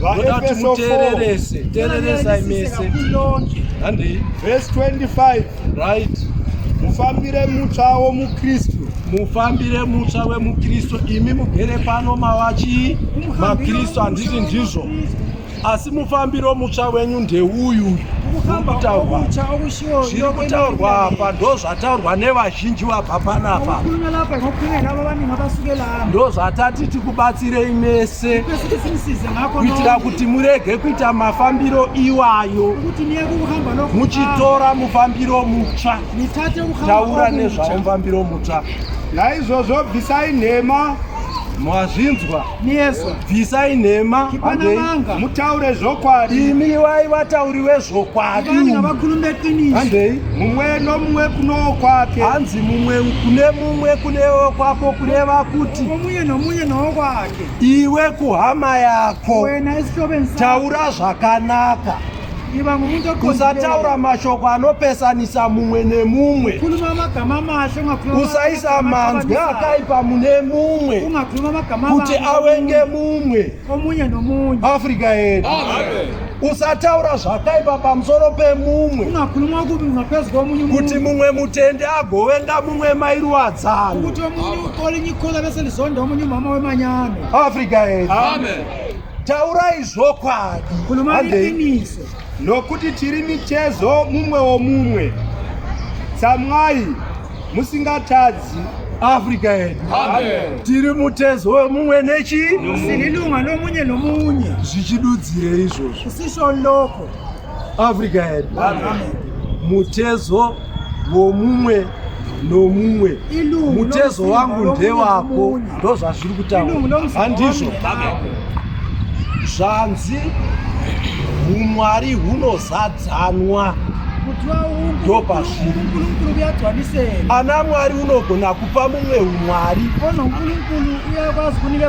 vadati mutererese tereresai mese handei vhesi 25 right mufambire mutsva womukristu mufambire mutsva wemukristu imi mugere pano mavachi makristu handiti ndizvo asi mufambiro mutsva wenyu ndeuyu ukutaurwa zviri kutaurwa apa ndo zvataurwa nevazhinji vabva panapa ndo zvatati tikubatsirei mese kuitira kuti murege kuita mafambiro iwayo muchitora mufambiro mutsva taura nezvawo mufambiro mutsva naizvozvo bvisai nhema mazvinzwa Mieso. Bvisai nhema. Chipanamanga. Mutaure zvokwadi. Imi wai vatauri vezvokwadi. Vanhu ngavakhulume qiniso. Handei. Mumwe nomumwe kunowo kwake. Hanzi mumwe kune mumwe kunewo kwako kureva kuti omunye nomunye nowo kwake. Iwe kuhama yako. Wena isihlobo Taura zvakanaka. Usataura mashoko anopesanisa mumwe nemumwe. Usaisa manzwi akaipa mune mumwe kuti awenge mumwe. Afrika yedu. Usataura zvakaipa pamusoro pemumwe kuti mumwe mutende agovenga mumwe mairuwadzano. Afrika yedu. Taurai zvokwadi nokuti tiri mitezo mumwe womumwe. Tsamwai musingatadzi Africa yedu tiri mutezo wemumwe nechi sinilunga nomunye nomunye zvichidudzire izvozvo sisho loko Africa yedu mutezo womumwe nomumwe mutezo wangu ndewako ndozvazviri kutaura handizvo zvanzi umwari hunozadzanwa ndopazviri ana mwari unogona kupa mumwe umwari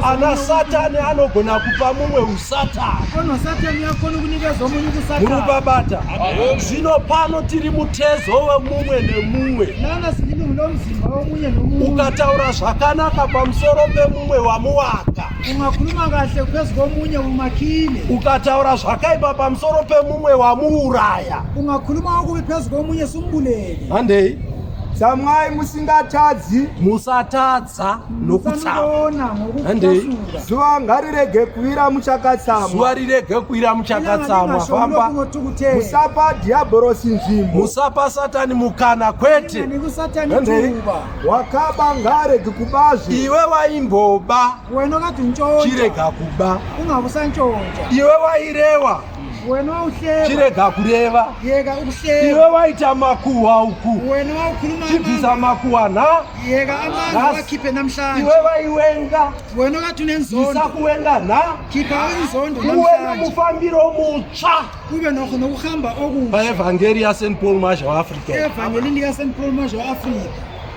ana satani anogona kupa mumwe murubabata zvino pano tiri mutezo wemumwe nemumwe ukataura zvakanaka pamusoro pemumwe wamuwaka ukataura zvakaipa pamusoro pemumwe wamuuraya handei tsamwai musingatadzi musatadzi tsa nokutsa handei zuva ngarirege kuira muchakatsamwa zuva rirege kuira muchakatsamwa famba musapa dhiabhorosi nzvimbo musapa satani mukana kwete handei wakaba ngaarege kubazve iwe waimboba chirega kuba iwe wairewa chirega kureva iwe waita makuhwa uku chibvisa makuhwa nhaiwe vaiwenga isakuwenga nhauwe nomufambiro mutsva paevhangeri yaSt Paul Marsh waAfrica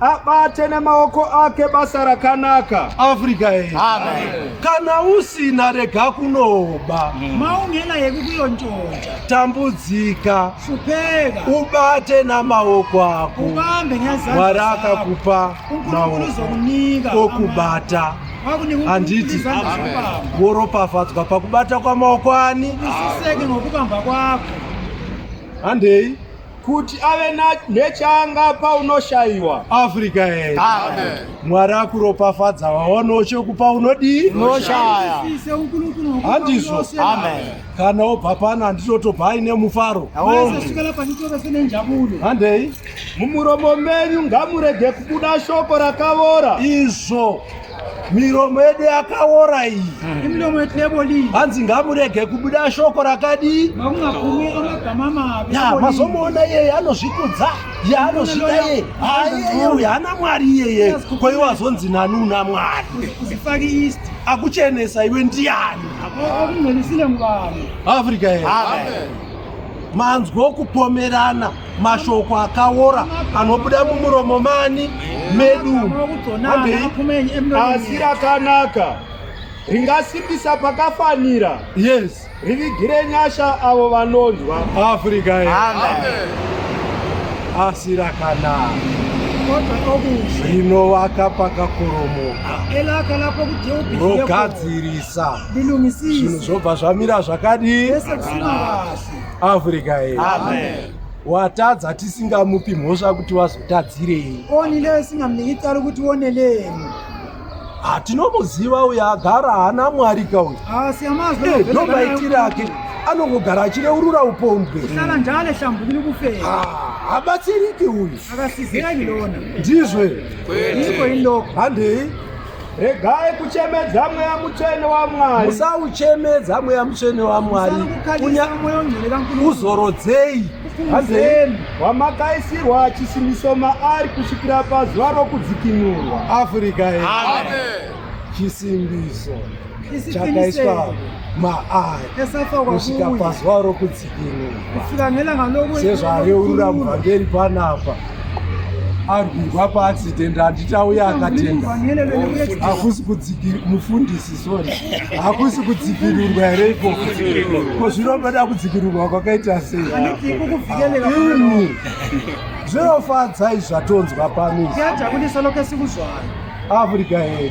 abate nemaoko ake basa rakanaka africa ye kana usina rega kunoba mm. maungena yeku kuyonjonja tambudzika fupeka ubate namaoko ako ubambe mwari akakupa maoko okubata handiti woropafadzwa pakubata kwamaoko ani handei kuti ave nechaangapa unoshaiwa africa e mwari akuropafadza waonawo chokupa unodii unoshaya handizvo kana obva pano handitotobva aine mufaro handei mumuromo menyu ngamurege kubuda shoko rakavora izvo miromo yedu yakaora iyi hmm. hanzi ngamurege kubuda shoko rakadii mazomuona iyeye anozvikudza ye anozvida yeye aiyeye uyu hana mwari iyeye kwaiwo azonzi nani una mwari akuchenesa iwe ndiyani africa manzwa okupomerana mashoko akaora anobuda mumuromo mani medu asi rakanaka ringasimbisa pakafanira yes rivigire nyasha avo vanonzwa africa asi rakanaka rinovaka pakakoromoka rogadzirisa zvinhu zvobva zvamira zvakadii africa ye amen watadza tisingamupi mhosva kuti wazotadzirei onile isingamniki tsari kuti oneleni hatinomuziva ah, uyo agara haana mwari ka uyo ah, eh, ndomaitire ake anongogara achireurura upombwe habatsiriki ah, uyu ndizvo handei regai kuchemedza mweya mutsvene wamwari musauchemedza mweya mutsvene wamwari kuzorodzei hazeni wamakaisirwa chisimiso maari kusvikira pazuva rokudzikinurwa afrika chisimbiso chakaiswa maari kusvika pazuva rokudzikinurwa sezvareurura muvhangeri panapa arwirwa paaccident handitauya akatenga hakusi mufundisi sorry hakusi kudzikirirwa here ikoko ko zvinonoda kudzikirirwa kwakaita sei imi zvinofadzai zvatonzwa pamizi africa here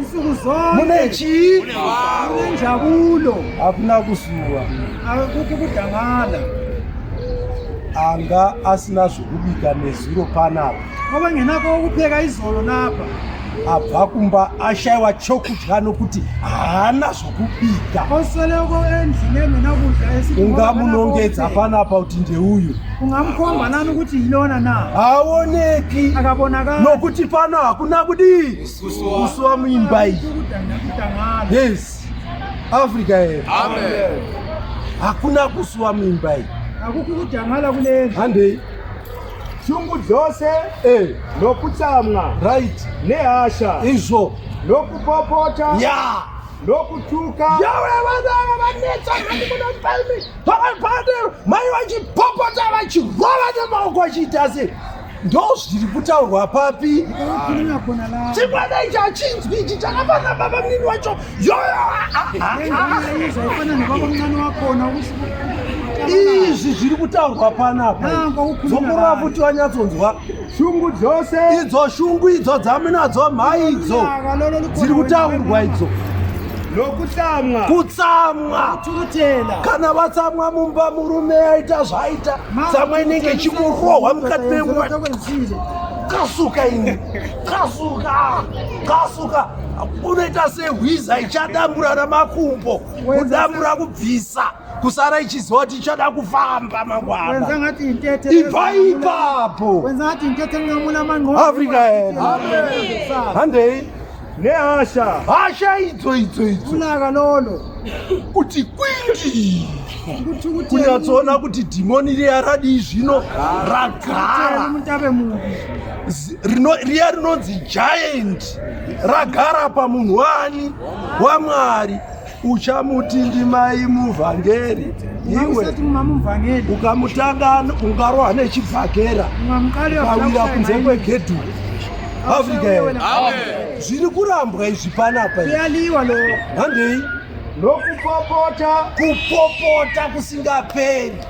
nsuku zonke mune chii mune njabulo hakuna kusuwa akuti kudangana anga asina zvekubika nezuro panapa kwava ngenako wokupheka izolo napa abva kumba ashaiwa chokudya nokuti haana zvokubika osoloko endlini engena kudya esithi ungamunongedza panapa kuti ndeuyu ungamkhomba nani ukuthi yilona na haoneki akabonakala nokuti pano hakuna kudii kusuwa muimba iyi yes africa here hakuna kusuwa muimba iyi handei shungu dzose eh. nokutsamwa right nehasha izvo nokupopota ya yeah. nokutuka mai vachipopota vachirova nemaoko vachiita sei ndozviri kutaurwa papi chimwana ichi achinzwi ichi chakafanira baba mnini wacho izvi zviri kutaurwa panapa dzokorora kuti vanyatsonzwa shungu dzose idzo shungu idzo dzamunadzo mhai idzo dziri kutaurwa idzo nokutsamwa kutsamwa kana vatsamwa mumba murume aita zvaita tsamwa inenge ichingorohwa mukati memwa kasuka ini kasuka kasuka unoita sehwiza ichadambura namakumbo kudambura kubvisa kusara ichiziva kuti ichada kufamba mangwana ibva ipapo africa handei nehasha hasha idzo idzo idzo kunaka nono kuti kwindi kunyatsoona kuti dhimoni riya radii zvino ragara riya rinonzi giant ragara pamunhu wani wamwari uchamuti ndimai muvhangeri iwe ukamutanga ungarohwa nechibhakera ukawira kunze kwegedhu afrika here zviri kurambwa izvi panapa handei nokupopota kupopota kusingaperi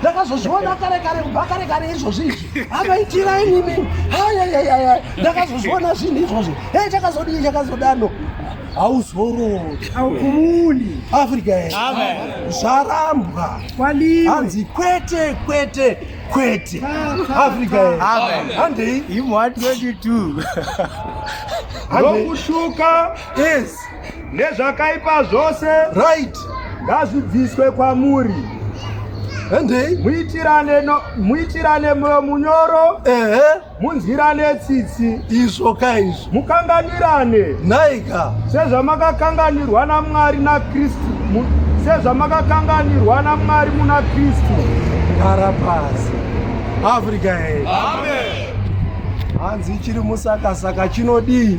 ndakazozviona kare kare kubva kare kare izvozvi izvi anoitira inini ayayayaya ndakazozviona zvinhu izvozvo e chakazodii chakazodano hauzorori haukumundi afrika zvarambwa hanzi kwete kwete kwete afrika handei imwa 22 ndokushuka yes nezvakaipa zvose right ngazvibviswe kwamuri handei muitirane no, muitirane moyo munyoro ehe munzwirane tsitsi izvo ka izvo mukanganirane nhaika sezvamakakanganirwa namwari nakristu sezvamakakanganirwa namwari muna kristu gara pasi africa he hanzi chiri musakasaka chinodii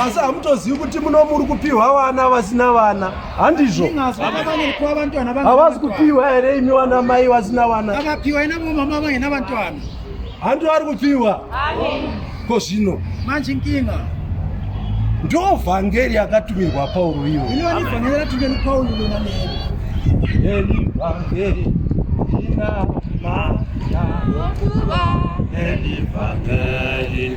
asi hamutozivi kuti muno muri kupiwa vana vasina vana handizvo havasi kupiwa here imi vana mai vasina vana handiwo ari kupiwa ko zvino manje nkinga ndo vhangeri yakatumirwa pauro iyo elivhangeri ina mata elivhangeri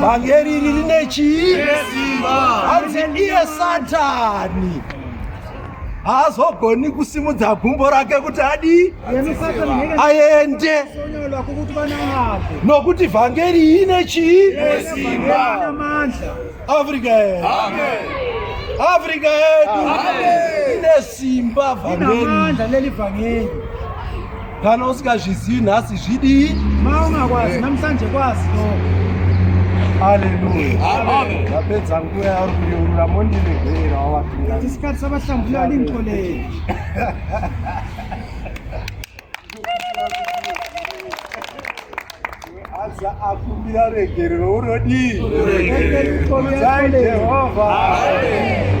vhangeri iri rine chii hanzi iye satani haazogoni kusimudza gumbo rake kuti adi aende nokuti vhangeri ine chii Africa yedu. Amen. Africa yedu. Amen. Ine simba vangeli. Ina manda leli vangeli. Kana usikazvizivi nhasi zvidii? Maunga kwazi namsanje kwazi no. Hallelujah. Amen. Ndapedza nguva yauri kureurura mondiregerera wawapinda. Tisikati sabahlambulela linto leli. Aza akumbira regerero unodii? Unoregererwa. Jehovha. Amen.